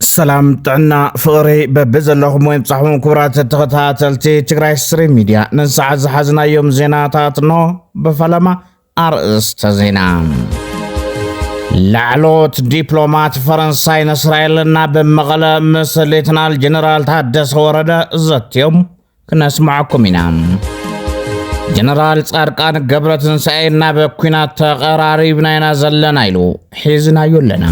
ሰላም ጥዕና ፍቕሪ በቢ ዘለኹም ወይ ብጻሕኹም ክቡራት ተኸታተልቲ ትግራይ ስሪ ሚድያ ንሰዓት ዝሓዝናዮም ዜናታት ኖ ብፈለማ ኣርእስተ ዜና ላዕሎት ዲፕሎማት ፈረንሳይን እስራኤልን ናብ መቐለ ምስ ሌትናል ጀነራል ታደሰ ወረደ ዘትዮም ክነስምዓኩም ኢና። ጀነራል ጻድቃን ገብረ ትንሳኤ ናብ ኩናት ተቐራሪብና ኢና ዘለና ኢሉ ሒዝናዮ ኣለና።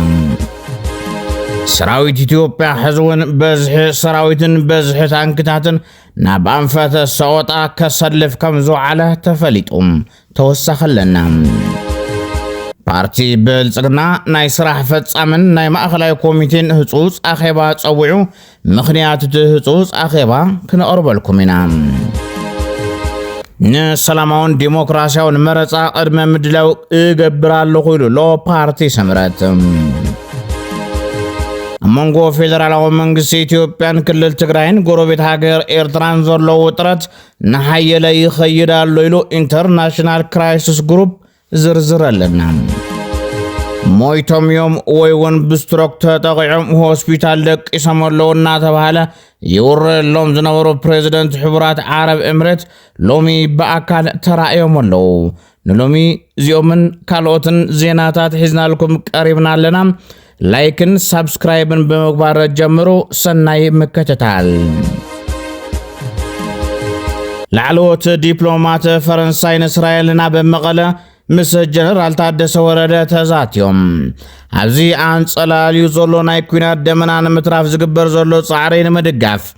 ሰራዊት ኢትዮጵያ ሕዚ እውን በዝሒ ሰራዊትን በዝሒ ታንክታትን ናብ ኣንፈተ ሰቆጣ ከሰልፍ ከም ዝውዓለ ተፈሊጡ ተወሳኺ ኣለና። ፓርቲ ብልጽግና ናይ ስራሕ ፈጻምን ናይ ማእኸላይ ኮሚቴን ህጹጽ ኣኼባ ጸዊዑ፣ ምኽንያት እቲ ህጹጽ ኣኼባ ክነቕርበልኩም ኢና። ንሰላማውን ዲሞክራሲያውን መረፃ ቅድመ ምድላው እገብር ኣለኹ ኢሉ ኣሎ ፓርቲ ስምረት። ኣብ መንጎ ፌደራላዊ መንግስቲ ኢትዮጵያን ክልል ትግራይን ጎረቤት ሃገር ኤርትራን ዘሎ ውጥረት እናሓየለ ይኸይድ ኣሎ ኢሉ ኢንተርናሽናል ክራይሲስ ግሩፕ ዝርዝር ኣለና ሞይቶም እዮም ወይ እውን ብስትሮክ ተጠቂዖም ሆስፒታል ደቂሶም ኣለዉ እናተባሃለ ይውረየሎም ዝነበሩ ፕሬዚደንት ሕቡራት ዓረብ እምረት ሎሚ ብኣካል ተራእዮም ኣለዉ ንሎሚ እዚኦምን ካልኦትን ዜናታት ሒዝናልኩም ቀሪብና ኣለና። ላይክን ሳብስክራይብን ብምግባር ጀምሩ። ሰናይ ምክትታል። ላዕለዎት ዲፕሎማት ፈረንሳይን እስራኤልን ኣብ መቐለ ምስ ጀነራል ታደሰ ወረደ ተዛትዮም ኣብዚ ኣንጸላልዩ ዘሎ ናይ ኩናት ደመና ንምትራፍ ዝግበር ዘሎ ጻዕሪ ንምድጋፍ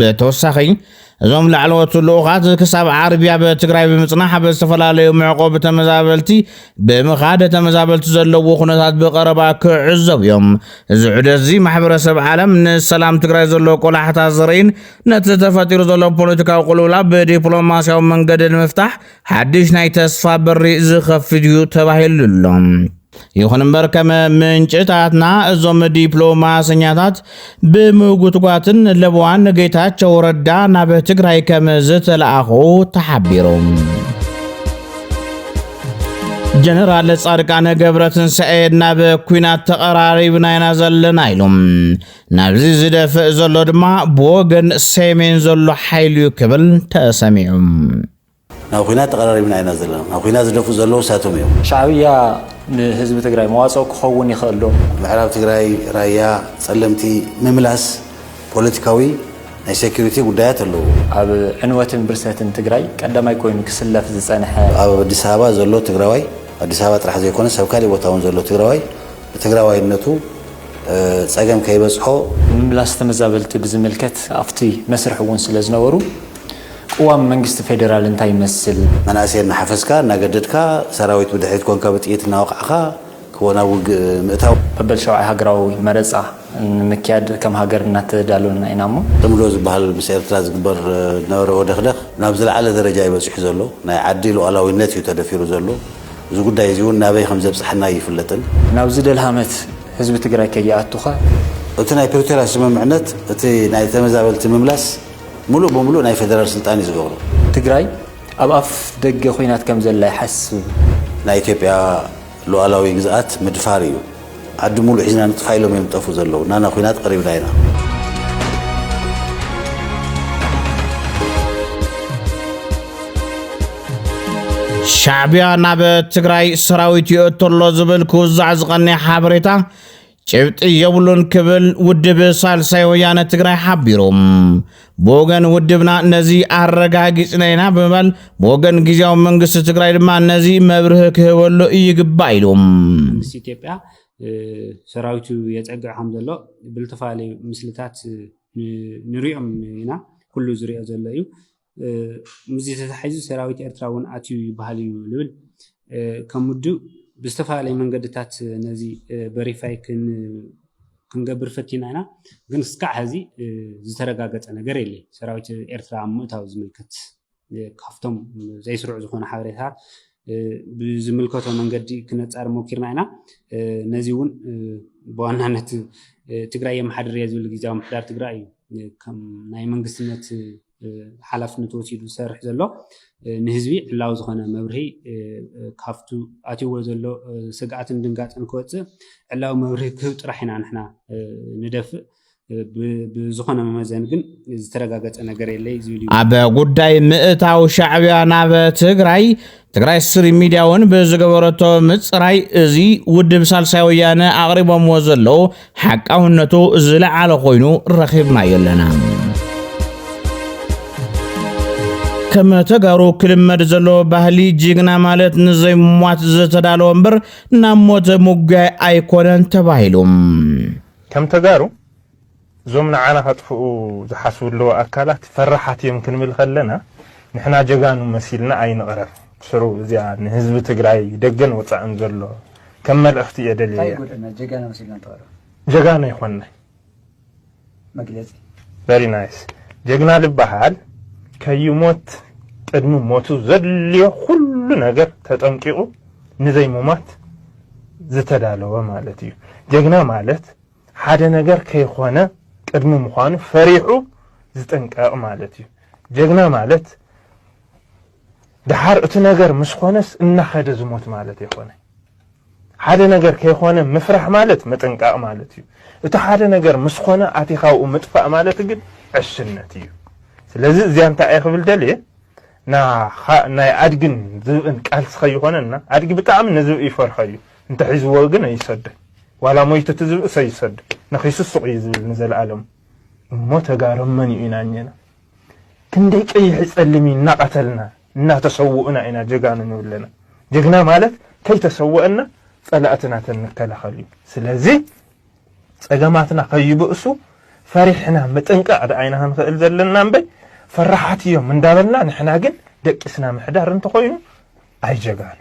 ብተወሳኺ እዞም ላዕለዎት ልኡኻት ክሳብ ዓርቢ ኣብ ትግራይ ብምፅናሕ ኣብ ዝተፈላለዩ መዕቆቢ ተመዛበልቲ ብምኻድ ተመዛበልቲ ዘለዎ ኩነታት ብቐረባ ክዕዘቡ እዮም። እዚ ዑደት እዚ ማሕበረሰብ ዓለም ንሰላም ትግራይ ዘሎ ቆላሕታ ዘርእን ነቲ ተፈጢሩ ዘሎ ፖለቲካዊ ቁልውላ ብዲፕሎማሲያዊ መንገዲ ንምፍታሕ ሓድሽ ናይ ተስፋ በሪ ዝኸፍት እዩ ተባሂሉ ኣሎ። ይኹን እምበር ከም ምንጭታትና እዞም ዲፕሎማሰኛታት ብምጉትጓትን ለበዋን ንጌታቸው ረዳ ናብ ትግራይ ከም ዝተለኣኹ ተሓቢሩ። ጀነራል ጻድቃነ ገብረ ትንሳኤ ናብ ኩናት ተቐራሪብና ኢና ዘለና ኢሉ ናብዚ ዝደፍእ ዘሎ ድማ ብወገን ሰሜን ዘሎ ሓይሉ ክብል ተሰሚዑ ናብ ኹናት ተቐራሪብና ኢና ዘለና። ናብ ኹናት ዝደፍኡ ዘለዉ እሳቶም እዮም። ሻዕብያ ንህዝቢ ትግራይ መዋፅኦ ክኸውን ይኽእል ዶ? ምዕራብ ትግራይ፣ ራያ፣ ፀለምቲ ምምላስ ፖለቲካዊ ናይ ሴኩሪቲ ጉዳያት ኣለዉ። ኣብ ዕንወትን ብርሰትን ትግራይ ቀዳማይ ኮይኑ ክስለፍ ዝፀንሐ። ኣብ ኣዲስ ኣበባ ዘሎ ትግራዋይ፣ ኣዲስ ኣበባ ጥራሕ ዘይኮነስ ኣብ ካሊእ ቦታ እውን ዘሎ ትግራዋይ ብትግራዋይነቱ ፀገም ከይበፅሖ። ምምላስ ተመዛበልቲ ብዝምልከት ኣብቲ መስርሕ እውን ስለዝነበሩ ቅዋም መንግስቲ ፌደራል እንታይ ይመስል? መናእሰይ እናሓፈስካ እናገደድካ፣ ሰራዊት ብድሕሪት ኮንካ ብጥይት እናወቓዕኻ ክወ ናብ ውግእ ምእታው። መበል ሻውዓይ ሃገራዊ መረጻ ንምክያድ ከም ሃገር እናተዳለውና ኢና እሞ። ጽምዶ ዝበሃል ምስ ኤርትራ ዝግበር ዝነበረ ወደኽደኽ ናብ ዝለዓለ ደረጃ እዩ በጺሑ ዘሎ። ናይ ዓዲ ሉኣላዊነት እዩ ተደፊሩ ዘሎ። እዚ ጉዳይ እዚ እውን ናበይ ከም ዘብጽሓና ኣይፍለጥን። ናብዚ ደልሃመት ህዝቢ ትግራይ ከይኣቱኸ? እቲ ናይ ፕሪቶርያ ስምምዕነት እቲ ናይ ተመዛበልቲ ምምላስ ሙሉእ ብሙሉእ ናይ ፌደራል ስልጣን እዩ ዝገብሮ። ትግራይ ኣብ ኣፍ ደገ ኹናት ከም ዘላ ይሓስብ። ናይ ኢትዮጵያ ሉኣላዊ ግዝኣት ምድፋር እዩ። ዓዲ ሙሉእ ሒዝና ንጥፋእ ኢሎም እዮም ዝጠፍኡ ዘለዉ። ናና ኹናት ቐሪብና ኢና። ሻዕቢያ ናብ ትግራይ ሰራዊት ይእቶ ኣሎ ዝብል ክውዛዕ ዝቐነየ ሓበሬታ ጭብጢ የብሉን ክብል ውድብ ሳልሳይ ወያነ ትግራይ ሓቢሩ። ብወገን ውድብና ነዚ ኣረጋጊጽና ኢና ብምባል ብወገን ግዜያዊ መንግስቲ ትግራይ ድማ ነዚ መብርሂ ክህበሉ ይግባእ ኢሉ። መንግስቲ ኢትዮጵያ ሰራዊቱ የፀግዕ ከም ዘሎ ብዝተፈላለዩ ምስልታት ንሪኦም ኢና ኩሉ ዝሪኦ ዘሎ እዩ ምስዚ ተታሒዙ ሰራዊት ኤርትራ እውን ኣትዩ ይበሃል እዩ ዝብል ከም ውድብ ብዝተፈላለዩ መንገድታት ነዚ በሪፋይ ክንገብር ፈቲና ኢና ግን እስካዕ ሐዚ ዝተረጋገፀ ነገር የለ ሰራዊት ኤርትራ ኣብ ምእታው ዝምልከት ካብቶም ዘይስሩዕ ዝኾነ ሓበሬታት ብዝምልከቶ መንገዲ ክነፃር ሞኪርና ኢና ነዚ እውን ብዋናነት ትግራይ የመሓድር እየ ዝብል ግዜያዊ ምሕዳር ትግራይ እዩ ከም ናይ መንግስትነት ሓላፍነቱ ወሲዱ ዝሰርሕ ዘሎ ንህዝቢ ዕላዊ ዝኾነ መብርሂ ካብቱ ኣትይዎ ዘሎ ስግኣትን ድንጋፅን ክወፅእ ዕላዊ መብርሂ ክህብ ጥራሕ ኢና ንሕና ንደፍእ ብዝኾነ መመዘን ግን ዝተረጋገፀ ነገር የለይ ዝብል እዩ ኣብ ጉዳይ ምእታው ሻዕቢያ ናብ ትግራይ ትግራይ ስትሪም ሚድያ እውን ብዝገበረቶ ምፅራይ እዚ ውድብ ሳልሳይ ወያነ ኣቕሪቦምዎ ዘለዉ ሓቃውነቱ ዝለዓለ ኮይኑ ረኺብናዮ ኣለና። ከም ተጋሩ ክልመድ ዘሎ ባህሊ ጅግና ማለት ንዘይሟት ዝተዳለወ እምበር ናብ ሞት ምጉያይ ኣይኮነን ተባሂሉ ከም ተጋሩ እዞም ንዓና ከጥፍኡ ዝሓስቡ ዘለዉ ኣካላት ፈራሓት እዮም ክንብል ከለና ንሕና ጀጋኑ መሲልና ኣይንቕረብ። ብስሩ እዚኣ ንህዝቢ ትግራይ ደገን ወጻእን ዘሎ ከም መልእኽቲ እየ ደልየያ። እንታይ ይጎድኣና ጀጋኑ መሲልና እንተቕረብ። ጀጋኑ ኣይኮንናይ። መግለጺ። Very nice ጀግና ልበሃል ከይሞት ቅድሚ ሞቱ ዘድልዮ ኩሉ ነገር ተጠንቂቑ ንዘይሙማት ዝተዳለወ ማለት እዩ። ጀግና ማለት ሓደ ነገር ከይኾነ ቅድሚ ምዃኑ ፈሪሑ ዝጥንቀቕ ማለት እዩ። ጀግና ማለት ደሓር እቲ ነገር ምስ ኾነስ እናኸደ ዝሞት ማለት የኾነ። ሓደ ነገር ከይኾነ ምፍራሕ ማለት ምጥንቃቕ ማለት እዩ። እቲ ሓደ ነገር ምስ ኾነ ኣቲኻ ኣብኡ ምጥፋእ ማለት ግን ዕሽነት እዩ። ስለዚ እዚያ እንታይ እየ ክብል ደልየ ናይ ኣድግን ዝብእን ቃልሲ ከይኾነና ኣድጊ ብጣዕሚ ንዝብኢ ይፈርሖ እዩ። እንተ ሒዝዎ ግን ኣይሰደ ዋላ ሞይቱ ትዝብእስ ኣይሰደ ነኺሱ ሱቕ እዩ ዝብል ንዘልኣለሙ እሞ ተጋሩ መን እዩ ኢና እኘና ክንደይ ቀይሒ ጸሊሚ እናቐተልና እናተሰውኡና ኢና ጀጋኑ ንብለና ጀግና ማለት ከይተሰወእና ጸላእትና ተንከላኸል እዩ ስለዚ ጸገማትና ከይብእሱ ፈሪሕና ምጥንቃቕ ደኣይና ክንኽእል ዘለና እምበይ ፈራሓት እዮም እንዳበልና ንሕና ግን ደቂስና ምሕዳር እንተኾይኑ ኣይጀጋኑ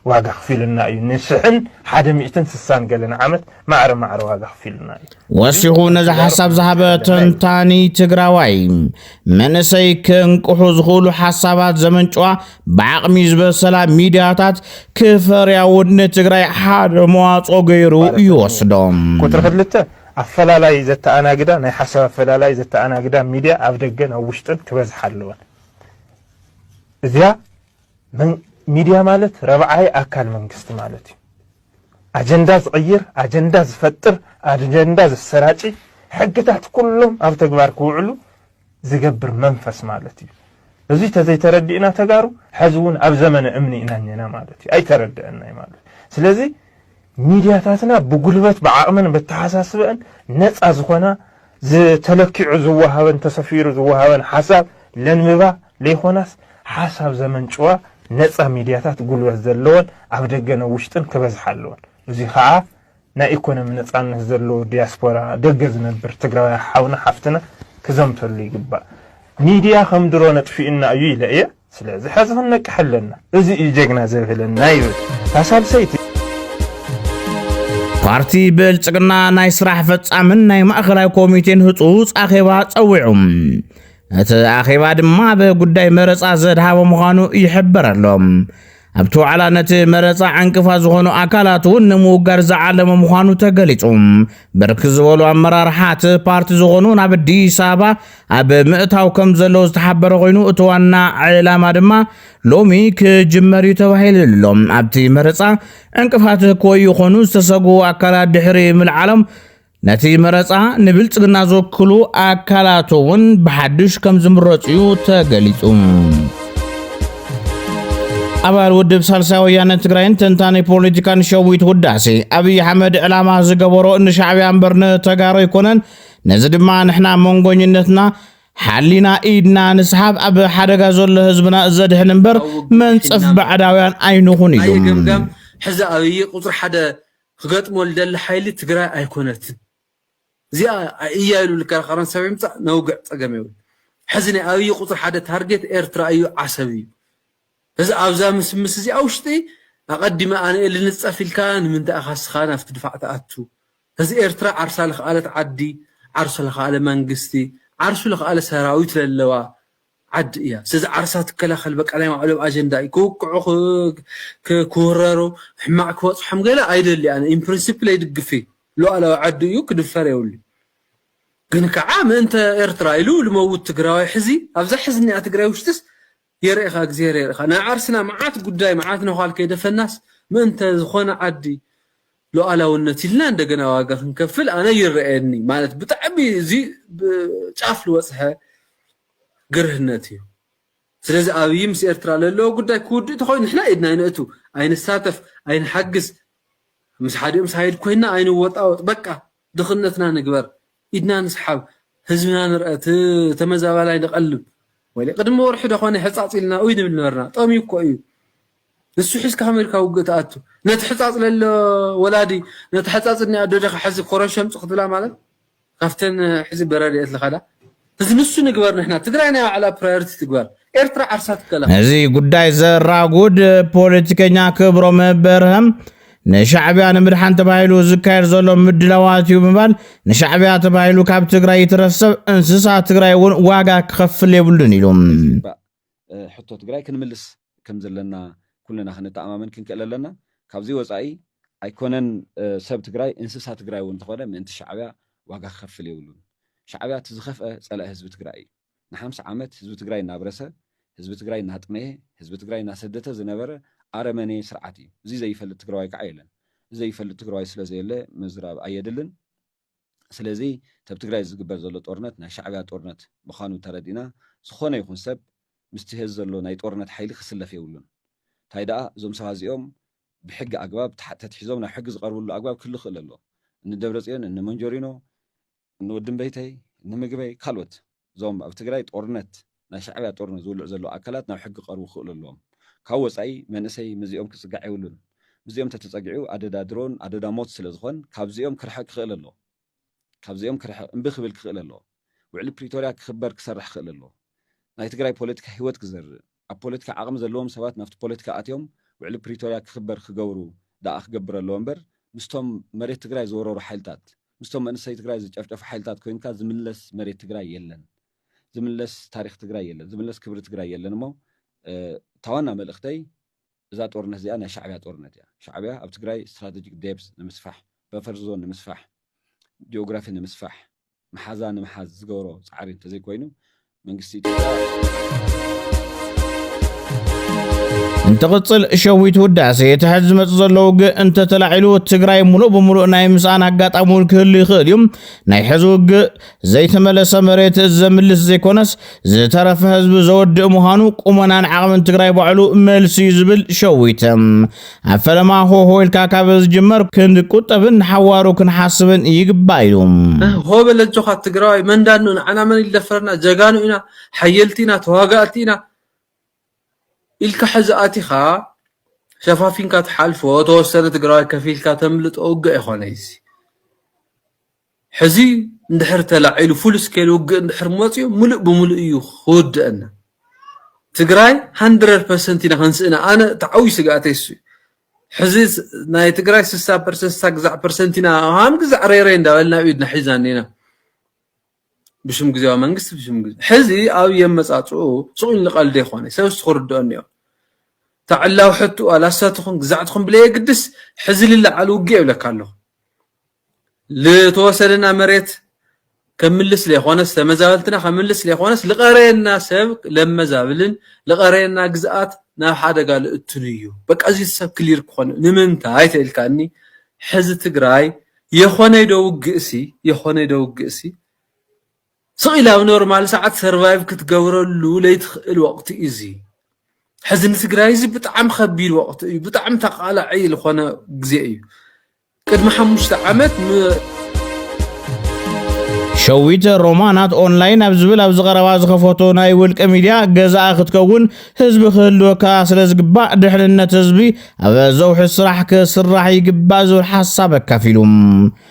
ዋጋ ክፊሉና እዩ ንሽሕን ሓደ ሚእትን ስሳን ገለን ዓመት ማዕረ ማዕረ ዋጋ ክፊሉና እዩ ወሲኹ ነዚ ሓሳብ ዝሃበ ተንታኒ ትግራዋይ መንእሰይ ክንቅሑ ዝኽእሉ ሓሳባት ዘመንጭዋ ብዓቕሚ ዝበሰላ ሚድያታት ክፈርያ እውን ንትግራይ ሓደ መዋፅኦ ገይሩ ይወስዶም ቁፅሪ ክልተ ኣፈላላይ ዘተኣናግዳ ናይ ሓሳብ ኣፈላላይ ዘተኣናግዳ ሚድያ ኣብ ደገን ኣብ ውሽጥን ክበዝሓ ኣለወን እዚኣ ሚድያ ማለት ረብዓይ ኣካል መንግስቲ ማለት እዩ። ኣጀንዳ ዝቕይር፣ ኣጀንዳ ዝፈጥር፣ ኣጀንዳ ዘሰራጪ፣ ሕግታት ኩሎም ኣብ ተግባር ክውዕሉ ዝገብር መንፈስ ማለት እዩ። እዚ ተዘይተረዲእና ተጋሩ ሕዚ እውን ኣብ ዘመነ እምኒ ኢና እኔና ማለት እዩ። ኣይተረድአናይ ማለት እዩ። ስለዚ ሚድያታትና ብጉልበት ብዓቕመን በተሓሳስበአን ነፃ ዝኾና ዝተለኪዑ ዝወሃበን ተሰፊሩ ዝወሃበን ሓሳብ ለንብባ ለይኾናስ ሓሳብ ዘመንጭዋ ነጻ ሚድያታት ጉልበት ዘለወን ኣብ ደገን ኣብ ውሽጥን ክበዝሓ ኣለወን። እዙይ ኻዓ ናይ ኢኮኖሚ ነጻነት ዘለዎ ዲያስፖራ ደገ ዝነብር ትግራዋይ ሓውና ሓፍትና ክዘምተሉ ይግባእ። ሚድያ ከም ድሮ ነጥፊኡና እዩ ኢለ እየ ስለዚ ሐዚ ክንነቅሕ ኣለና እዙይ እዩ ጀግና ዘብህለና ይብል እታ ሳልሰይቲ። ፓርቲ ብልፅግና ናይ ስራሕ ፈፃምን ናይ ማእኸላይ ኮሚቴን ህፁፅ ኣኼባ ፀዊዑ እቲ ኣኼባ ድማ ብጉዳይ መረፃ ዘድሃበ ምዃኑ ይሕበር ኣሎ። ኣብቲ ዋዕላ ነቲ መረፃ ዕንቅፋ ዝኾኑ ኣካላት እውን ንምውጋድ ዝዓለመ ምዃኑ ተገሊጹ። ብርክ ዝበሉ ኣመራርሓ እቲ ፓርቲ ዝኾኑ ናብ ኣዲስ ኣበባ ኣብ ምእታው ከም ዘለዉ ዝተሓበረ ኮይኑ እቲ ዋና ዕላማ ድማ ሎሚ ክጅመር እዩ ተባሂሉ ኣሎ። ኣብቲ መረፃ ዕንቅፋት ክወዩ ይኾኑ ዝተሰግኡ ኣካላት ድሕሪ ምልዓሎም ነቲ መረፃ ንብልፅግና ዝወክሉ ኣካላት እውን ብሓድሽ ከም ዝምረፁ እዩ ተገሊፁ። ኣባል ውድብ ሳልሳይ ወያነ ትግራይን ተንታኒ ፖለቲካን ሸዊት ውዳሴ ኣብይ ኣሕመድ ዕላማ ዝገበሮ ንሻዕብያ እምበር ንተጋሩ ኣይኮነን። ነዚ ድማ ንሕና መንጎኝነትና ሓሊና ኢድና ንስሓብ ኣብ ሓደጋ ዘሎ ህዝብና ዘድሕን እምበር መንፀፍ ባዕዳውያን ኣይንኹን ኢሉ ሕዚ ኣብይ ቁፅሪ ሓደ ክገጥሞ ልደሊ ሓይሊ ትግራይ ኣይኮነትን እዚኣ እያ ኢሉ ልከራኸረን ሰብ ይምፃእ ነውግዕ ፀገም የብሉን ሕዚ ናይ ኣብይ ቁፅሪ ሓደ ታርጌት ኤርትራ እዩ ዓሰብ እዩ እዚ ኣብዛ ምስምስ እዚኣ ውሽጢ ኣቀዲመ ኣነየ ልንፀፍ ኢልካ ንምንታይ ኢኻ እስኻ ናብቲ ድፋዕ ትኣቱ እዚ ኤርትራ ዓርሳ ልኽኣለት ዓዲ ዓርሱ ለኽኣለ መንግስቲ ዓርሱ ለኽኣለ ሰራዊት ለለዋ ዓዲ እያ ስለዚ ዓርሳ ትከላከል በቃ ናይ ባዕሎም ኣጀንዳ እዩ ክውቅዑ ክውረሩ ሕማቅ ክበጽሖም ገለ ኣይደሊ ኣነ ኢን ፕሪንሲፕል ኣይድግፍ ሉኣላዊ ዓዱ እዩ ክድፈር የብሉ ግን ከዓ ምእንተ ኤርትራ ኢሉ ልመውት ትግራዋይ ሕዚ ኣብዛ ሕዝኒኣ ትግራይ ውሽጥስ የርእኻ እግዚኣብሔር የርእኻ ናይ ዓርስና መዓት ጉዳይ መዓት ነዃል ከይደፈናስ ምእንተ ዝኾነ ዓዲ ሉኣላውነት ኢልና እንደገና ዋጋ ክንከፍል ኣነ ይረኣየኒ ማለት ብጣዕሚ እዚ ጫፍ ልወጽሐ ግርህነት እዩ ስለዚ ኣብይ ምስ ኤርትራ ለለዎ ጉዳይ ክውድእ ተኮይኑ ንሕና ኢድና ኣይነእቱ ኣይንሳተፍ ኣይንሓግዝ ምስ ሓዲኦም ሳይድ ኮይና ኣይንወጣወጥ በቃ ድኽነትና ንግበር ኢድና ንስሓብ ህዝብና ንርኣ እቲ ተመዛባላይ ንቀልብ ወይለ ቅድሚ ወርሒ ደኾነ ሕጻጽ ኢልና ኡይ ንብል ነበርና ጠምዩ እኮ እዩ ንሱ ሒዝካ ኣሜሪካ ውግእ ትኣቱ ነቲ ሕጻጽ ለሎ ወላዲ ነቲ ሕጻጽ እኒ ኣዶ ዲኻ ሕዚ ኮረሸምጽ ክትብላ ማለት ካብተን ሕዚ በረድኤት ልኸዳ እዚ ንሱ ንግበር ንሕና ትግራይ ናይ ባዕላ ፕራዮሪቲ ትግበር ኤርትራ ዓርሳ ትከላኸል። ነዚ ጉዳይ ዘራጉድ ፖለቲከኛ ክብሮም በርሀ ንሻዕቢያ ንምድሓን ተባሂሉ ዝካየድ ዘሎ ምድላዋት እዩ ብምባል ንሻዕቢያ ተባሂሉ ካብ ትግራይ ይትረሰብ እንስሳ ትግራይ እውን ዋጋ ክኸፍል የብሉን ኢሉ። ሕቶ ትግራይ ክንምልስ ከም ዘለና ኩልና ክንተኣማመን ክንክእል ኣለና። ካብዚ ወፃኢ ኣይኮነን ሰብ ትግራይ እንስሳ ትግራይ እውን እንተኾነ ምእንቲ ሻዕቢያ ዋጋ ክኸፍል የብሉን። ሻዕቢያ እቲ ዝኸፍአ ፀላኢ ህዝቢ ትግራይ እዩ። ንሓምሳ ዓመት ህዝቢ ትግራይ እናብረሰ፣ ህዝቢ ትግራይ እናጥመየ፣ ህዝቢ ትግራይ እናሰደተ ዝነበረ ኣረመኔ ስርዓት እዩ። እዙይ ዘይፈልጥ ትግራዋይ ከዓ የለን። እዚ ዘይፈልጥ ትግራዋይ ስለዘየለ ምዝራብ ኣየድልን። ስለዚ ተብ ትግራይ ዝግበር ዘሎ ጦርነት ናይ ሻዕብያ ጦርነት ምኻኑ ተረዲእና ዝኾነ ይኹን ሰብ ምስቲ ሀዚ ዘሎ ናይ ጦርነት ሓይሊ ክስለፍ የብሉን ታይ ደኣ እዞም ሰባት እዚኦም ብሕጊ ኣግባብ ተትሒዞም ናብ ሕጊ ዝቀርብሉ ኣግባብ ክህሉ ይኽእል ኣሎ እኒ ደብረፅዮን እኒ መንጆሪኖ እኒ ወዲ እምበይተይ እኒ ምግበይ ካልኦት እዞም ኣብ ትግራይ ጦርነት ናይ ሻዕብያ ጦርነት ዝውልዕ ዘሎ ኣካላት ናብ ሕጊ ክቀርቡ ክክእሉ ኣለዎም ካብ ወፃኢ መንእሰይ ምዚኦም ክፅጋዕ የብሉን ምዚኦም ተተፀጊዑ ኣደዳ ድሮን ኣደዳ ሞት ስለ ዝኮን ካብዚኦም ክርሕቅ ክክእል ኣለዎ ካብዚኦም ክርሕቅ እምቢ ክብል ክክእል ኣለዎ ውዕሊ ፕሪቶርያ ክክበር ክሰርሕ ክክእል ኣለዎ ናይ ትግራይ ፖለቲካ ሂወት ክዘርእ ኣብ ፖለቲካ ዓቕሚ ዘለዎም ሰባት ናብቲ ፖለቲካ ኣትዮም ውዕሊ ፕሪቶርያ ክኽበር ክገብሩ ደኣ ክገብር ኣለዎ እምበር ምስቶም መሬት ትግራይ ዝወረሩ ሓይልታት ምስቶም መንእሰይ ትግራይ ዝጨፍጨፉ ሓይልታት ኮይንካ ዝምለስ መሬት ትግራይ የለን ዝምለስ ታሪኽ ትግራይ የለን ዝምለስ ክብሪ ትግራይ የለን እሞ እታ ዋና መልእኽተይ እዛ ጦርነት እዚኣ ናይ ሻዕቢያ ጦርነት እያ ሻዕቢያ ኣብ ትግራይ ስትራቴጂክ ዴብዝ ንምስፋሕ በፈር ዞን ንምስፋሕ ጂኦግራፊ ንምስፋሕ መሓዛ ንምሓዝ ዝገብሮ ፃዕሪ እንተዘይኮይኑ መንግስቲ እንትቕፅል ሸዊት ውዳሴ እቲ ሕዚ ዝመፅ ዘሎ ውግእ እንተተላዒሉ ትግራይ ሙሉእ ብምሉእ ናይ ምስኣን ኣጋጣሚ እውን ክህሉ ይኽእል እዩ ናይ ሕዚ ውግእ ዘይተመለሰ መሬት ዘምልስ ዘይኮነስ ዝተረፈ ህዝቢ ዘወድእ ምዃኑ ቁመናን ዓቕምን ትግራይ ባዕሉ መልሲ እዩ ዝብል ሸዊት ኣብ ፈለማ ሆሆ ኢልካ ካብ ዝጅመር ክንቁጠብን ንሓዋሩ ክንሓስብን ይግባእ ኢሉ። ሆ በል ኣጆኻ ትግራዋይ መን ዳኣ እንኡ ንዓና መን ይደፈረና ጀጋኑ ኢና ሓየልቲ ኢና ተዋጋእቲ ኢና ኢልካ ሕዚ ኣቲኻ ሸፋፊንካ ትሓልፎ ተወሰነ ትግራዋይ ከፊልካ ተምልጦ ውግእ ኣይኾነይ እዚ ሕዚ እንድሕር ተላዒሉ ፉል ስኬል ውግእ እንድሕር መፅዩ ሙሉእ ብሙሉእ እዩ ክውደኣና ትግራይ ሃንድረድ ፐርሰንት ኢና ክንስእና ኣነ እቲ ዓብይ ስግኣተይ እሱ እዩ ሕዚ ናይ ትግራይ ስሳ ፐርሰንት ስሳ ግዛዕ ፐርሰንት ኢና ሃም ግዛዕ ሬሬ እንዳበልና ኣብ ኢድና ሒዛን እኒና ብሽም ግዜያዊ መንግስቲ ብሽም ግዜ ሕዚ ኣብ የመጻጽኡ ሱቕ ኢሉ ቀልዲ ይኾነ ሰብ እሱ ክርድኦ እኒኦ እታ ዕላዊ ሕትኡ ኣላሳ ትኹን ግዛዕ ትኹን ብለየግድስ ሕዚ ልለዓል ውግእ የብለካ ኣለኹ ዝተወሰደና መሬት ከምልስ ለይኮነስ ተመዛበልትና ከምልስ ለይኮነስ ልቀረየና ሰብ ለመዛብልን ልቀረየና ግዝኣት ናብ ሓደጋ ልእትሉ እዩ በቃ እዚ ሰብ ክሊር ክኾን ንምንታይ ተኢልካኒ ሕዚ ትግራይ የኾነይ ዶ ውግእሲ የኾነይ ዶ ውግእሲ ስቕ ኢላ ኣብ ኖርማል ሰዓት ሰርቫይቭ ክትገብረሉ ለይትኽእል ወቕቲ እዩ እዚ ሕዚ ንትግራይ እዚ ብጣዕሚ ከቢድ ወቕቲ እዩ ብጣዕሚ ተቃላዒ ዝኾነ ግዜ እዩ ቅድሚ ሓሙሽተ ዓመት ን ሸዊት ሮማናት ኦንላይን ኣብ ዝብል ኣብዚ ቀረባ ዝኸፈቶ ናይ ውልቀ ሚድያ ገዛኣ ክትከውን ህዝቢ ክህልወካ ስለ ዝግባእ ድሕንነት ህዝቢ ኣብ ዘውሒ ስራሕ ክስራሕ ይግባእ ዝብል ሓሳብ ኣካፊሉ።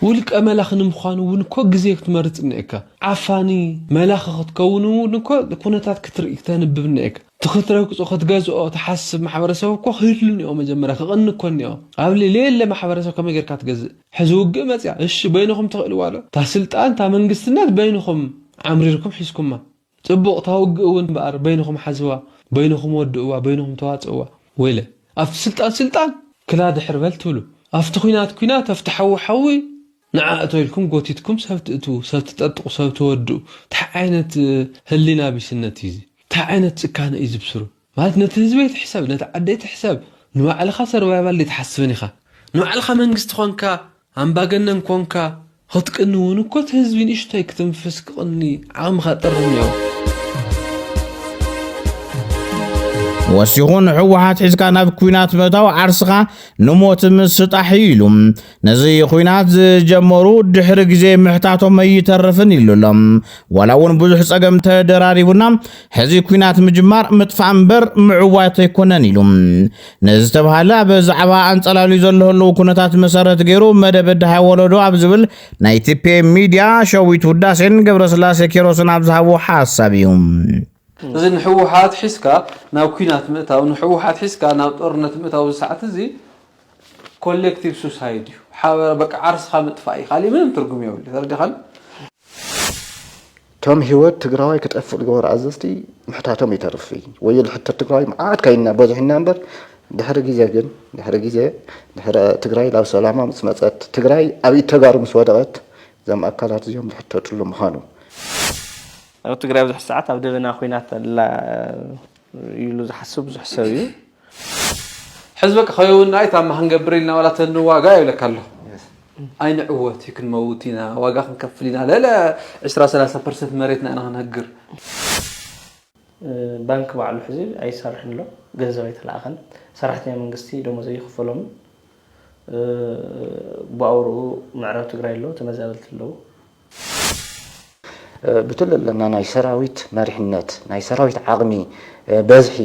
ውልቀ መላኺ ንምዃን እውን እኮ ግዜ ክትመርፅ እኒኤካ። ዓፋኒ መላኺ ክትከውን እውን እኮ ኩነታት ክትርኢ ክተንብብ እኒኤካ። እቲ ክትረግጾ ክትገዝኦ ትሓስብ ማሕበረሰብ እኮ ክህሉ እኒኦ መጀመርያ ክቕኒ እኮ እኒኦ ኣብ ልሌለ ማሕበረሰብ ከመይ ጌርካ ትገዝእ ሕዚ ውግእ መጽያ እሺ በይንኹም ትኽእልዋ ዶ እታ ስልጣን እታ መንግስትነት በይንኹም ዓምሪርኩም ሒዝኩማ ጽቡቕ እታ ውግእ እውን እምበኣር በይንኹም ሓዝዋ በይንኹም ወድእዋ በይንኹም ተዋጽእዋ ወይለ ኣብቲ ስልጣን ስልጣን ክላ ድሕር በል ትብሉ ኣብቲ ኲናት ኲናት ኣብቲ ሓዊ ሓዊ ንዓ እቶ ኢልኩም ጎቲትኩም ሰብ ትእትዉ ሰብ ትጠጥቁ ሰብ ተወድኡ ታይ ዓይነት ህሊና ቢስነት እዩ እዚ ታይ ዓይነት ጭካነ እዩ ዝብስሩ ማለት ነቲ ህዝቢ ኣይትሕሰብ ነቲ ዓዲ ኣይትሕሰብ ንባዕልኻ ሰርቫይቫል ደይትሓስብን ኢኻ ንባዕልኻ መንግስቲ ኮንካ ኣምባገነን ኮንካ ኽትቅኒ ውን እኮ እቲ ህዝቢ ንእሽቶይ ክትንፍስ ክቅኒ ዓቅምኻ ጥር እኒኦ። ወሲኹ ንሕወሓት ሒዝካ ናብ ኩናት ምእታው ዓርስኻ ንሞት ምስጣሕ እዩ ኢሉ። ነዚ ኹናት ዝጀመሩ ድሕሪ ግዜ ምሕታቶም ኣይተርፍን ኢሉ ኣሎ። ዋላ እውን ብዙሕ ጸገም ተደራሪቡና ሕዚ ኩናት ምጅማር ምጥፋእ እምበር ምዕዋት ኣይኮነን ኢሉ ንዝተብሃለ ኣብ ዛዕባ ኣንጸላልዩ ዘሎ ህልው ኩነታት መሰረት ገይሩ መደብ ድሃይ ወለዶ ኣብ ዝብል ናይ ቲፔ ሚድያ ሸዊት ውዳሴን ገብረስላሴ ኬሮስን ኣብ ዝሃቦ ሓሳብ እዩ። እዚ ንሕወሓት ሒዝካ ናብ ኩናት ምእታው ንሕወሓት ሒዝካ ናብ ጦርነት ምእታው እዚ ሰዓት እዚ ኮሌክቲቭ ሱሳይድ እዩ ሓበራ በቃ ዓርስካ ምጥፋእ እዩ ካሊእ ምንም ትርጉም የብሉ ተረዳካኒ። ቶም ሂወት ትግራዋይ ክጠፍእ ዝገበሩ ኣዘዝቲ ምሕታቶም ይተርፍ ወዮ ዝሕተት ትግራዋይ መዓት ካይና በዝሕና እምበር ድሕሪ ግዜ ግን ድሕሪ ግዜ ድሕሪ ትግራይ ናብ ሰላማ ምስ መፀት ትግራይ ኣብ ኢድ ተጋሩ ምስ ወደቐት እዞም ኣካላት እዚኦም ዝሕተትሉ ምዃኑ ኣብ ትግራይ ብዙሕ ሰዓት ኣብ ደበና ኩናት ኣላ ኢሉ ዝሓስብ ብዙሕ ሰብ እዩ ሕዚ በቃ ከይውን ኣይ ታማ ክንገብር ኢልና ዋላ ተንዋጋ ይብለካ ኣሎ ኣይንዕወት እዩ ክንመውት ኢና ዋጋ ክንከፍል ኢና ለለ 20 30 ፐርሰንት መሬትና ኢና ክንህግር ባንክ ባዕሉ ሕዚ ኣይሰርሕን ኣሎ ገንዘብ ኣይተለኣኸን ሰራሕተኛ መንግስቲ ደሞዝ ኣይክፈሎምን ብኣውርኡ ምዕራብ ትግራይ ኣለዉ ተመዛበልቲ ኣለዉ ብትሎ ኣለና ናይ ሰራዊት መሪሕነት ናይ ሰራዊት ዓቕሚ በዝሒ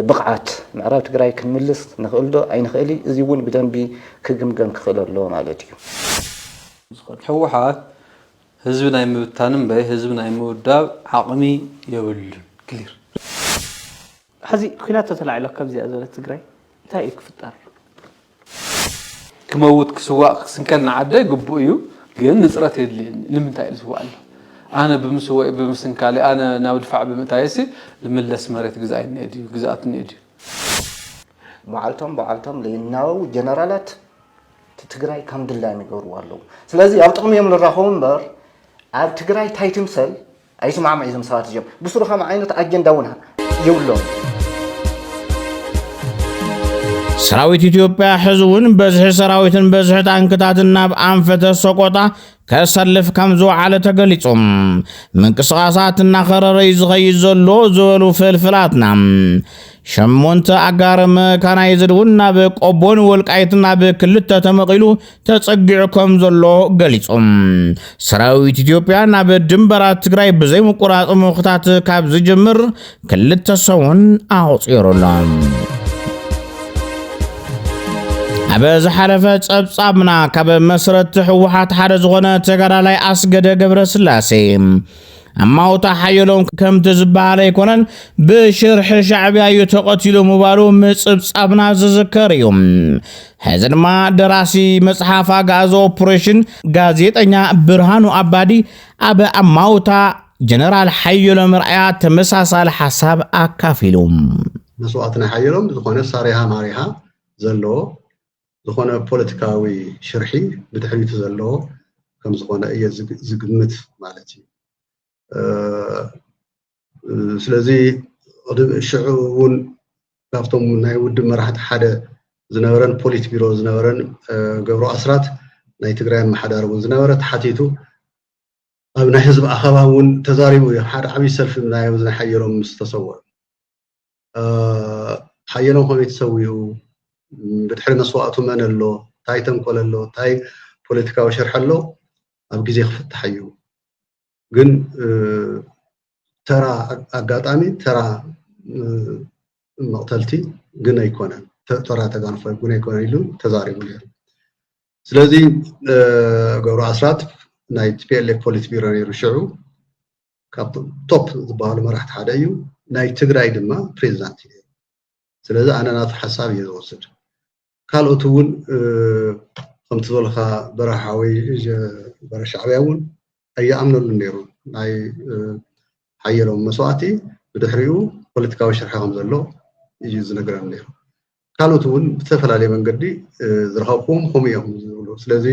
ብቕዓት ምዕራብ ትግራይ ክንምልስ ንኽእልዶ ኣይንኽእል እዚ እውን ብደንቢ ክግምገም ክኽእል ኣለዎ ማለት እዩ። ህወሓት ህዝቢ ናይ ምብታን እምበይ ህዝቢ ናይ ምውዳብ ዓቕሚ የብሉን ክሊር። ሐዚ ኲናት ተተላዒሉ ኣብ ከምዚኣ ዝበለት ትግራይ እንታይ እዩ ክፍጠር? ክመውት ክስዋእ ክስንከል ንዓደይ ግቡእ እዩ ግን ንፅረት የድልየኒ ንምንታይ እዩ ዝስዋእ ኣሎ ኣነ ብምስወኢ ብምስንካለይ ኣነ ናብ ድፋዕ ብምእታየሲ ልምለስ መሬት ግዛኣይ እኒኤ ድዩ ግዝኣት እኒኤ ድዩ በዓልቶም በዓልቶም ለይናበቡ ጀነራላት ትግራይ ከም ድላዮም ይገብርዎ ኣለዉ ስለዚ ኣብ ጥቕሚ እዮም ልራኸቡ እምበር ኣብ ትግራይ ታይ ትምሰል ኣይስማዕምዕ እዩ እዞም ሰባት እዚኦም ብስሩ ከም ዓይነት ኣጀንዳ እውን የብሎም። ሰራዊት ኢትዮጵያ ሕዚ እውን በዝሒ ሰራዊትን በዝሒ ታንክታትን ናብ ኣንፈተ ሰቆጣ ከሰልፍ ከም ዝወዓለ ተገሊጹ ምንቅስቓሳት እናኸረረ እዩ ዝኸይድ ዘሎ ዝበሉ ፍልፍላትና ሸሞንተ ኣጋር መካናይዝድ እውን ናብ ቆቦን ወልቃይትን ናብ ክልተ ተመቒሉ ተጸጊዑ ከም ዘሎ ገሊጹ። ሰራዊት ኢትዮጵያ ናብ ድንበራት ትግራይ ብዘይምቁራጽ ምኹታት ካብ ዝጅምር ክልተ ሰሙን ኣቑጺሩ ኣሎ። ኣብ ዝሓለፈ ጸብጻብና ካብ መስረቲ ህወሓት ሓደ ዝኾነ ተጋዳላይ ኣስገደ ገብረ ስላሴ ኣማውታ ሓየሎም ከምቲ ዝበሃል ኣይኮነን ብሽርሒ ሻዕብያ እዩ ተቐቲሉ ምባሉ ምጽብጻብና ዝዝከር እዩ። ሕዚ ድማ ደራሲ መጽሓፍ ኣግኣዚ ኦፕሬሽን ጋዜጠኛ ብርሃኑ ኣባዲ ኣብ ኣማውታ ጀነራል ሓየሎም ርኣያ ተመሳሳሊ ሓሳብ ኣካፊሉ መስዋእቲ ናይ ሓየሎም ዝኾነ ሳሪሃ ማሪሃ ዘለዎ ዝኾነ ፖለቲካዊ ሽርሒ ብድሕሪቱ ዘለዎ ከም ዝኾነ እየ ዝግምት ማለት እዩ ስለዚ ሽዑ እውን ካብቶም ናይ ውድብ መራሕቲ ሓደ ዝነበረን ፖሊት ቢሮ ዝነበረን ገብሩ ኣስራት ናይ ትግራይ ኣመሓዳሪ እውን ዝነበረ ተሓቲቱ ኣብ ናይ ህዝቢ ኣኸባ እውን ተዛሪቡ እዩ ሓደ ዓብዪ ሰልፊ ምናዮም ዝናሓየሮም ምስ ተሰወሩ ሓየሎም ከመይ ተሰዊኡ ብድሕሪ መስዋእቱ መን ኣሎ እንታይ ተንኮል ኣሎ እንታይ ፖለቲካዊ ሽርሒ ኣሎ ኣብ ግዜ ክፍታሕ እዩ ግን ተራ ኣጋጣሚ ተራ መቕተልቲ ግን ኣይኮነን ተራ ተጋንፎ ግን ኣይኮነን ኢሉ ተዛሪቡ ነይሩ ስለዚ ገብሩ ኣስራት ናይ ቲፒኤልኤፍ ፖሊት ቢሮ ነይሩ ሽዑ ካብቶም ቶፕ ዝበሃሉ መራሕቲ ሓደ እዩ ናይ ትግራይ ድማ ፕሬዚዳንት እዩ ስለዚ ኣነ ናቱ ሓሳብ እዩ ዝወስድ ካልኦት እውን ከምቲ ዝበልካ በረኻ ወይ በረ ሻዕብያ እውን ኣይኣምነሉ ነይሩ ናይ ሓየሎም መስዋእቲ ብድሕሪኡ ፖለቲካዊ ሽርሒ ከም ዘሎ እዩ ዝነገረኒ ነይሩ ካልኦት እውን ብዝተፈላለየ መንገዲ ዝረኸብኩም ከምኡ እዮም ዝብሉ ስለዚ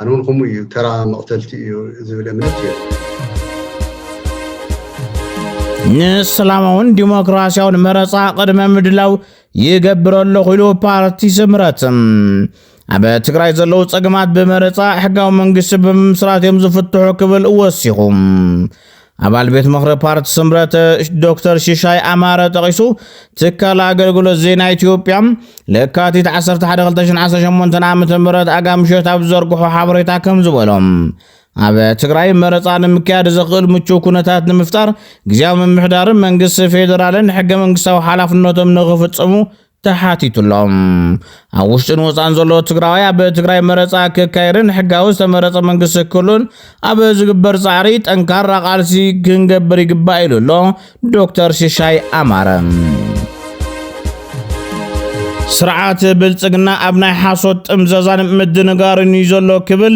ኣነ እውን ከምኡ እዩ ተራ መቕተልቲ እዩ ዝብል እምነት እዩ ንሰላማውን ዲሞክራሲያውን መረፃ ቅድመ ምድላው ይገብር ኣለኹ ኢሉ ፓርቲ ስምረት ኣብ ትግራይ ዘለዉ ጸገማት ብመረጻ ሕጋዊ መንግስቲ ብምምስራት እዮም ዝፍትሑ ክብል ወሲኹ ኣባል ቤት ምኽሪ ፓርቲ ስምረት ዶክተር ሽሻይ ኣማረ ጠቒሱ ትካል ኣገልግሎት ዜና ኢትዮጵያ ለካቲት 11 2018 ዓ ም ኣጋምሸት ኣብ ዘርግሖ ሓበሬታ ከም ዝበሎም ኣብ ትግራይ መረፃ ንምክያድ ዘኽእል ምቹው ኩነታት ንምፍጣር ግዜያዊ ምምሕዳርን መንግስቲ ፌዴራልን ሕገ መንግስታዊ ሓላፍነቶም ንኽፍፅሙ ተሓቲቱሎም ኣብ ውሽጥን ወፃን ዘሎ ትግራዋይ ኣብ ትግራይ መረፃ ክካየድን ሕጋዊ ዝተመረፀ መንግስቲ ክህሉን ኣብ ዝግበር ፃዕሪ ጠንካራ ቃልሲ ክንገብር ይግባእ ኢሉ ኣሎ ዶክተር ሽሻይ ኣማረ ስርዓት ብልፅግና ኣብ ናይ ሓሶት ጥምዘዛን ምድንጋርን እዩ ዘሎ ክብል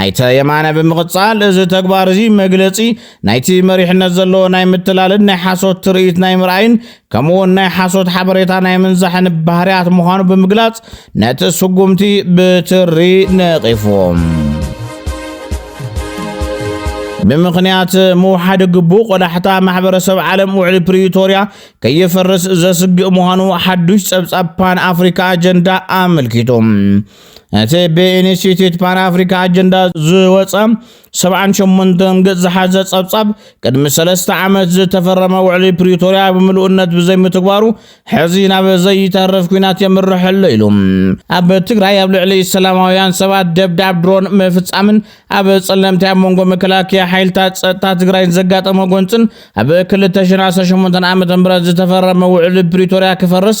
ኣይተ የማነ ብምቕጻል፣ እዚ ተግባር እዚ መግለጺ ናይቲ መሪሕነት ዘለዎ ናይ ምትላልን ናይ ሓሶት ትርኢት ናይ ምርኣይን ከምኡ'ውን ናይ ሓሶት ሓበሬታ ናይ ምንዛሕን ባህርያት ምዃኑ ብምግላጽ ነቲ ስጉምቲ ብትሪ ነቒፉዎ። ብምኽንያት ምውሓድ ግቡእ ቆዳሕታ ማሕበረሰብ ዓለም ውዕሊ ፕሪቶርያ ከይፈርስ ዘስግእ ምዃኑ ሓዱሽ ጸብጻብ ፓን ኣፍሪካ ኣጀንዳ ኣመልኪቱ። እቲ ብኢንስቲትዩት ፓን ኣፍሪካ ኣጀንዳ ዝወፀ 78 ገፅ ዝሓዘ ፀብፃብ ቅድሚ ሰለስተ ዓመት ዝተፈረመ ውዕሊ ፕሪቶርያ ብምልኡነት ብዘይምትግባሩ ሕዚ ናብ ዘይተርፍ ኩናት የምርሕ ኣሎ ኢሉ ኣብ ትግራይ ኣብ ልዕሊ ሰላማውያን ሰባት ደብዳብ ድሮን ምፍፃምን ኣብ ፀለምቲ ኣብ መንጎ መከላከያ ሓይልታት ፀጥታ ትግራይን ዘጋጠመ ጎንፅን ኣብ 2018 ዓ ም ዝተፈረመ ውዕሊ ፕሪቶርያ ክፈርስ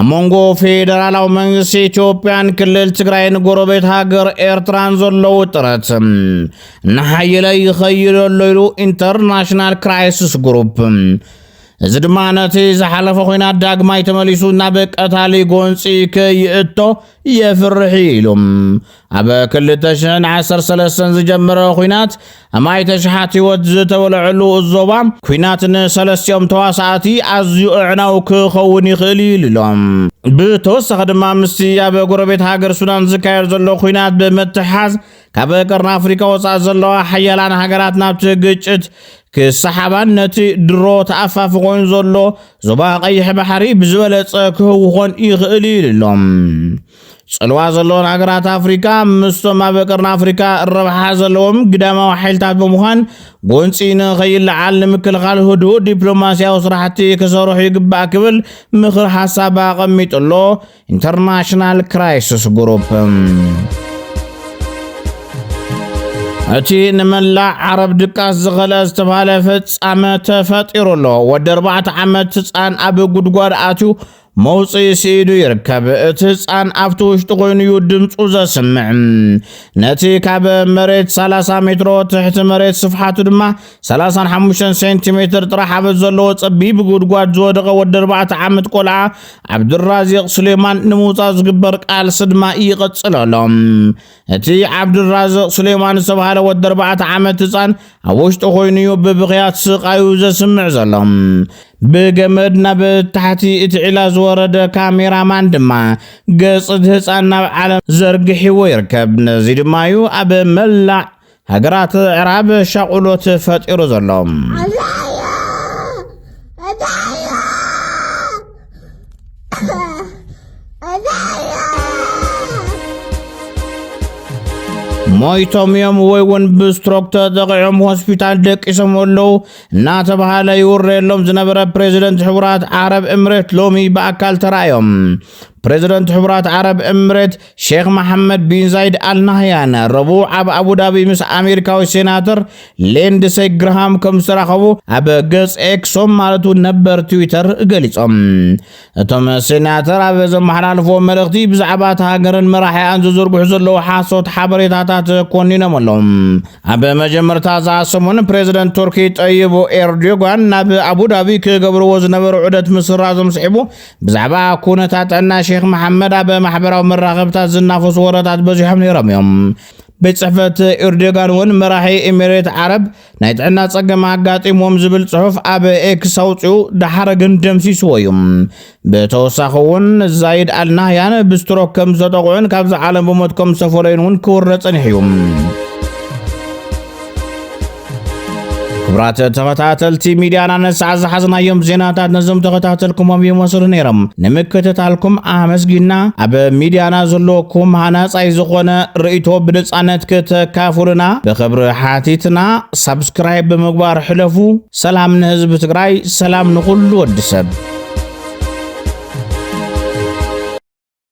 ኣብ መንጎ ፌደራላዊ መንግስቲ ኢትዮጵያን ክልል ትግራይን ጎረቤት ሃገር ኤርትራን ዘሎ ውጥረት እናሓየለ ይኸይድ ኣሎ ኢሉ ኢንተርናሽናል ክራይሲስ ግሩፕ እዚ ድማ ነቲ ዝሓለፈ ኮይናት ዳግማይ ተመሊሱ ናብ ቀታሊ ጎንፂ ከይእቶ የፍርሕ ኢሉ ኣብ ክልተ ሽሕን ዓሰርተ ሰለስተን ዝጀመረ ኲናት ኣማኢተ ሽሓት ህይወት ዝተወለዐሉ ዞባ ኲናት ንሰለስቲኦም ተዋሳእቲ ኣዝዩ ኣዕናዊ ክኸውን ይኽእል እዩ ኢሉሎም። ብተወሳኺ ድማ ምስቲ ኣብ ጎረቤት ሃገር ሱዳን ዝካየድ ዘሎ ኲናት ብምትሕሓዝ ካብ ቀርኒ ኣፍሪካ ወፃእ ዘለዋ ሓያላን ሃገራት ናብቲ ግጭት ክሰሓባን ነቲ ድሮ ተኣፋፊ ኮይኑ ዘሎ ዞባ ቀይሕ ባሕሪ ብዝበለፀ ክህውኾን ይኽእል እዩ ኢሉሎም። ጽልዋ ዘለወን ሃገራት ኣፍሪካ ምስቶም ኣብ ቀርኒ ኣፍሪካ ረብሓ ዘለዎም ግዳማዊ ሓይልታት ብምዃን ጎንፂ ንኸይለዓል ንምክልኻል ህድኡ ዲፕሎማሲያዊ ስራሕቲ ክሰርሑ ይግባእ ክብል ምኽር ሓሳብ ኣቐሚጡ ኣሎ ኢንተርናሽናል ክራይስስ ግሩፕ እቲ ንመላእ ዓረብ ድቃስ ዝኸልአ ዝተባሃለ ፍጻመ ተፈጢሩ ኣሎ ወዲ ኣርባዕተ ዓመት ህፃን ኣብ ጉድጓድ ኣትዩ መውጽኢ ስኢኑ ይርከብ። እቲ ህጻን ኣብቲ ውሽጢ ኮይኑ እዩ ድምፁ ዘስምዕ። ነቲ ካብ መሬት 30 ሜትሮ ትሕቲ መሬት ስፍሓቱ ድማ 35 ሴንቲሜትር ጥራሕ ኣብ ዘለዎ ጸቢብ ጉድጓድ ዝወደቐ ወዲ 4 ዓመት ቆልዓ ዓብዱራዚቕ ስሌማን ንምውጻእ ዝግበር ቃልሲ ድማ ይቕጽል ኣሎ። እቲ ዓብዱራዝቕ ሱሌማን ዝተባህለ ወዲ ኣርባዕተ ዓመት ህፃን ኣብ ውሽጡ ኮይኑ እዩ ብብኽያት ስቓዩ ዘስምዕ ዘሎ። ብገመድ ናብ ታሕቲ እቲ ዒላ ዝወረደ ካሜራማን ድማ ገፅ እቲ ህፃን ናብ ዓለም ዘርግሒዎ ይርከብ። ነዚ ድማ እዩ ኣብ መላእ ሃገራት ዕራብ ሻቑሎት ፈጢሩ ዘሎ ሞይቶም እዮም ወይ እውን ብስትሮክ ተጠቂዖም ሆስፒታል ደቂሶም ኣለዉ እናተባሃለ ይውረየሎም ዝነበረ ፕሬዚደንት ሕቡራት ዓረብ እምሬት ሎሚ ብኣካል ተራእዮም ፕሬዚደንት ሕቡራት ዓረብ እምሬት ሼኽ መሓመድ ቢን ዛይድ ኣል ናህያን ረቡዕ ኣብ ኣቡዳቢ ምስ ኣሜሪካዊ ሴናተር ሌንድሰይ ግርሃም ከም ዝተራኸቡ ኣብ ገጽ ኤክሶም ማለት እውን ነበር ትዊተር ገሊጾም። እቶም ሴናተር ኣብ ዘመሓላልፍዎ መልእኽቲ ብዛዕባ እቲ ሃገርን መራሒኣን ዝዝርግሑ ዘለዉ ሓሶት ሓበሬታታት ኮኒኖም ኣለዉ። ኣብ መጀመርታ እዛ ሰሙን ፕሬዚደንት ቱርኪ ጠይቡ ኤርዶጋን ናብ ኣቡዳቢ ክገብርዎ ዝነበሩ ዑደት ምስራዞም ስዒቡ ብዛዕባ ኩነታት ጥዕና ሼክ መሓመድ ኣብ ማሕበራዊ መራኸብታት ዝናፈሱ ወረታት በዚሖም ነይሮም እዮም። ቤት ጽሕፈት ኤርዶጋን እውን መራሒ ኤሚሬት ዓረብ ናይ ጥዕና ጸገም ኣጋጢሞም ዝብል ጽሑፍ ኣብ ኤክስ ኣውፅኡ ደሓረ ግን ደምሲስዎ እዩ። ብተወሳኺ እውን ዛይድ ኣልናህያን ብስትሮክ ከም ዝተጠቕዑን ካብዚ ዓለም ብሞት ከም ዝተፈለዩን እውን ክውረ ጸኒሑ እዩ። ክብራት ተኸታተልቲ ሚድያና ነሳዕ ዝሓዝናዮም ዜናታት ነዞም ተኸታተልኩሞም ይመስሉ ነይሮም ንምክትታልኩም ኣመስጊና ኣብ ሚድያና ዘለኩም ሃናፃይ ዝኾነ ርእቶ ብነፃነት ክተካፍሉና ብክብሪ ሓቲትና ሳብስክራይብ ብምግባር ሕለፉ ሰላም ንህዝቢ ትግራይ ሰላም ንኹሉ ወዲ ሰብ